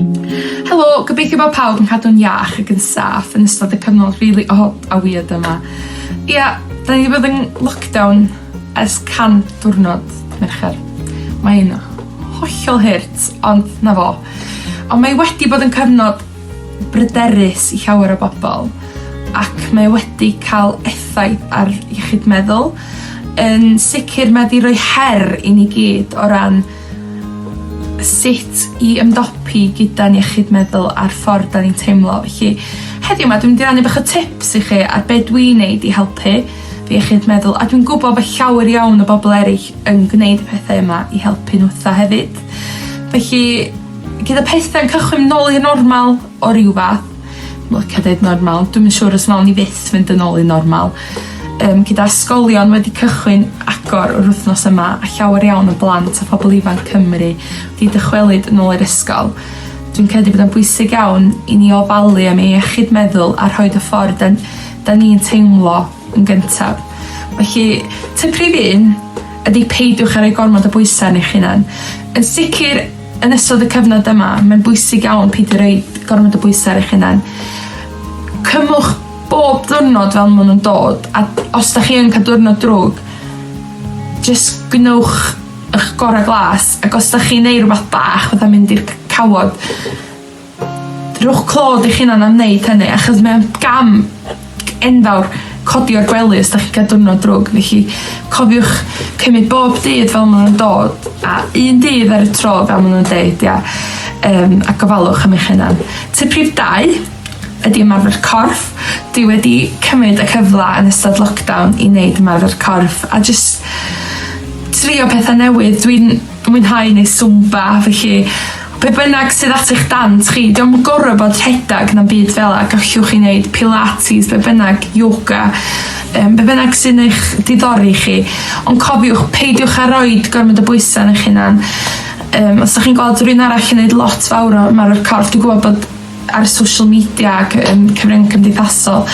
Helo, gobeithio bod pawb yn cadw'n iach ac yn saff yn ystod y cyfnod rili od a wierd yma. Ia, 'dan ni 'di bod yn lockdown ers cant diwrnod, mercher. Mae'n hollol hurt, ond 'na fo. On' mae wedi bod yn cyfnod bryderus i llawer o bobol, ac mae wedi ca'l effaith ar iechyd meddwl. Yn sicir mae 'di roi her i ni gyd o ran sut i ymdopi gyda'n iechyd meddwl a'r ffordd 'dan ni'n teimlo felly heddiw 'ma dwi'n mynd i rannu bach o tips i chi ar be' dwi'n neud i helpu fy iechyd meddwl a dwi'n gwbo bo' llawer iawn o bobol eryll yn gneud y pethe yma i helpu n'w 'tha hefyd felly gyda pethe'n cychwyn nôl i'r normal o ryw fath. Yn licio deud normal dwi'm yn siŵr os nawn ni fyth fynd yn ôl i normal yym gyda ysgolion wedi cychwyn agor yr wythnos yma a llawer iawn o blant a phobol ifanc Cymru 'di dychwelyd yn ôl i'r ysgol dwi'n credu bod o'n bwysig iawn i ni ofalu am ei iechyd meddwl a rhoid y ffordd 'dan 'dan ni'n teimlo yn gyntaf. Felly tip rhif un ydi peidiwch â roi gormod o bwysa' ar eich hunan. Yn sicir Yn ystod y cyfnod yma, mae'n bwysig iawn peidio rhoi gormod o bwysau ar eich hunan. Cymwch bob diwrnod fel maen nhw'n dod, a os da chi yn cael diwrnod drwg, jyst gwnewch ych gorau glas, ac os da chi'n neud rhywbeth bach, fatha mynd i'r cawod, Rhowch clod i'ch hunan am wneud hynny achos mae'n gam enfawr codi o'r gwely os da chi'n cael diwrnod drwg. Felly cofiwch cymryd bob dydd fel maen nhw'n dod a un dydd ar y tro fel maen nhw'n deud ia. Um, a gofalwch am eich hunan. Ty prif dau ydy ymarfer corff. Dwi wedi cymryd y cyfle yn ystod lockdown i wneud ymarfer corff a jyst trio pethau newydd. Dwi'n mwynhau neu swmba felly Be bynnag sydd at eich dant chi, diom yn gorfod bod rhedeg na'm byd fel 'a, gallwch chi wneud pilates, be bynnag, yoga, um, be bynnag sy'n eich diddori chi. Ond cofiwch, peidiwch â roed gormod o bwysau ar eich hunan. Um, os da chi'n gweld rhywun arall yn neud lot fawr o ymarfer corff, dwi'n gwybod bod ar social media ac yn cyfryngu cymdeithasol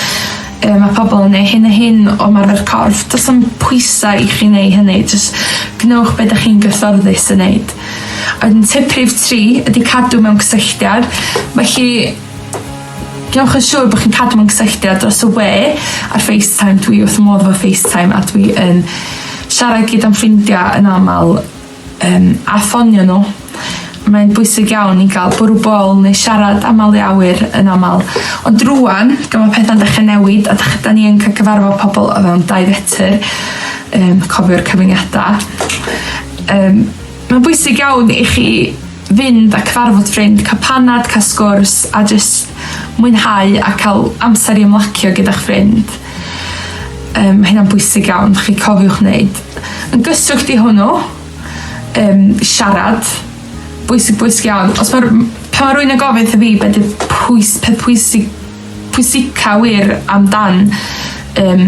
yy mae pobl yn neu hyn a hyn o marfer corff does am pwysau i chi neu hynny jyst gwnewch beth ydych chi'n gyfforddus yn neud oedd yn tip rhif tri ydy cadw mewn cysylltiad felly Gwnewch yn siŵr bod chi'n cadw mewn cysylltiad dros y we ar FaceTime dwi wrth modd efo FaceTime a dwi yn siarad gyd o'n ffrindiau yn aml um, a ffonio nhw. Mae'n bwysig iawn i gael bwrw bol neu siarad am malu awyr yn aml. Ond rwan, gan mae pethau'n dechrau newid a da ni yn cael cyfarfod pobl o fewn dau fetr, um, cofio'r cyfyngiadau, um, mae'n bwysig iawn i chi fynd a cyfarfod ffrind, cael panad, cael sgwrs a jyst mwynhau a cael amser i ymlacio gyda'ch ffrind. Um, mae hynna'n bwysig iawn, chi cofiwch wneud. Yn gysylltu i hwnnw, um, siarad, bwysig bwysig iawn. Os mae, pan mae rwy'n yn gofyn wrtho fi beth yw pwys, peth pwysig, pwysica wir amdan um,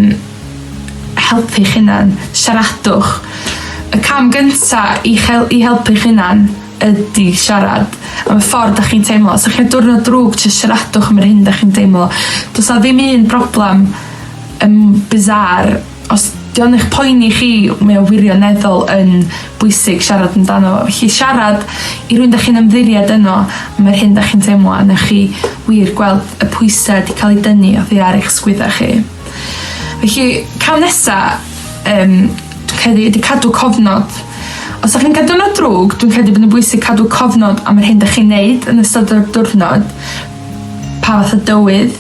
helpu chi'n hunan, siaradwch. Y cam gyntaf i, chel, i helpu chi'n hunan ydi siarad am y ffordd 'dach chi'n teimlo. Os 'dach chi'n ca'l diwrnod drwg jys siaradwch am yr hyn 'dach chi'n deimlo. Do's 'a ddim un broblam yn bizarre os 'di o'n eich poeni chi mae o wirioneddol yn bwysig siarad amdano fo felly siarad i rywun 'dach chi'n ymddiried yno am yr hyn 'dach chi'n teimlo a newch chi wir gweld y pwyse 'di ca'l 'i dynnu oddi ar eich sgwydda chi. Felly, cam nesa, um, dwi'n credu, ydy cadw cofnod. Os ydych chi'n cadw nod drwg, dwi'n credu bod yn bwysig cadw cofnod am yr hyn ydych chi'n neud yn ystod o'r diwrnod. Pa fath o dywydd,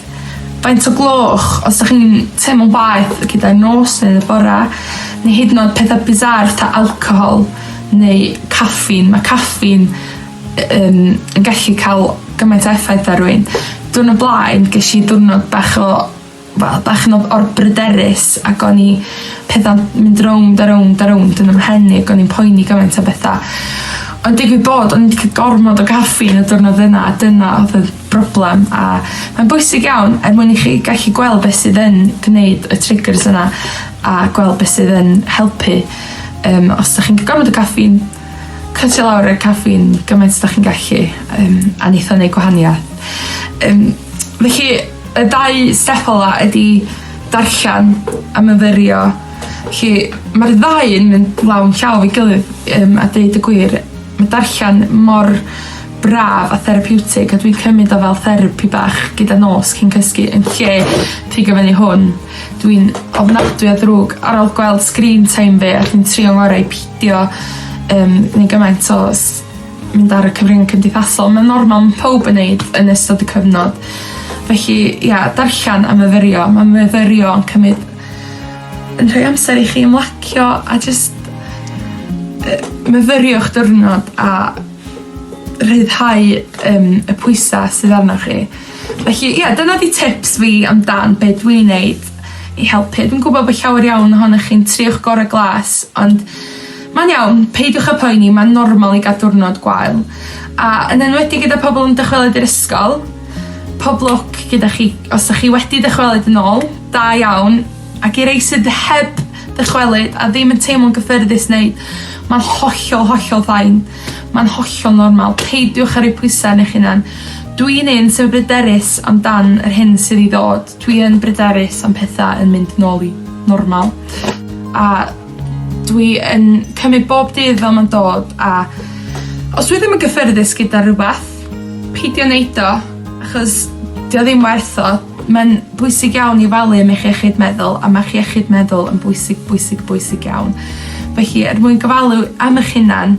faint o gloch, os ydych chi'n teimlo'n waeth gyda'r nos neu y bora, neu hyd yn oed pethau bizar ta alcohol neu caffin. Mae caffin um, yn gallu cael gymaint o effaith ar rwy'n. Dwi'n y blaen, ges i diwrnod bach o wel, bach yn o'r bryderus ac o'n i pethau'n mynd rownd a rownd a rownd yn ymhen i ac o'n i'n poeni gymaint o bethau. Ond digwydd bod, o'n i'n cael gormod o gaffi yn y diwrnod yna a dyna oedd y broblem a mae'n bwysig iawn er mwyn i chi gallu gweld beth sydd yn gwneud y triggers yna a gweld beth sydd yn helpu. Um, os ydych chi'n cael gormod o gaffi'n cytio lawr y caffi'n gymaint ydych chi'n gallu um, a neitho neu gwahaniaeth. Um, felly Y dau step ola ydi darllen a myfyrio. Felly ma'r ddau yn mynd law yn llaw 'i gilydd yym a deud y gwir. Ma' darllen mor braf a therapiwtig a dwi'n cymyd o fel therapi bach gyda nos cyn cysgu yn lle pigo fyny hwn dwi'n ofnadwy o ddrwg ar ôl gweld sgrîn time fi a dwi'n trio ngorau i pidio yym neu gymaint o s- mynd ar y cyfrynge cymdeithasol ma'n normal ma' powb yn neud yn ystod y cyfnod felly ia darllan a myfyrio ma' myfyrio yn cymyd yn rhoi amser i chi ymlacio a jyst yy myfyriwch diwrnod a rhyddhau yym y pwysa' sydd arnoch chi. Felly ia dyna 'di tips fi am dan be' dwi neud i helpu. Dwi'n gwbo bo' llawer iawn ohonoch chi'n trio'ch gore' glas ond Mae'n iawn, peidiwch â phoeni, mae'n normal i gael diwrnod gwael, a yn enwedig gyda pobl yn dychwelyd i'r ysgol. Pob lwc gyda chi os 'dach chi wedi dychwelyd yn ôl, da iawn, ac i rei sydd heb ddychwelyd a ddim yn teimlo'n gyffyrddus neu mae'n hollol, hollol fine. Mae'n hollol normal, peidiwch â rhoi pwysau arnoch eich hunan. Dwi'n un sy'n bryderus amdan yr hyn sydd i ddod, dwi yn bryderus am petha yn mynd nôl i normal, a Dwi yn cymyd bob dydd fel ma'n dod a os dwi ddim yn gyffyrddus gyda rwbath pidio neud o achos 'di o ddim werth o. Ma'n bwysig iawn i falu am eich iechyd meddwl a ma'ch iechyd meddwl yn bwysig bwysig bwysig iawn. Felly er mwyn gofalu am 'ych hunan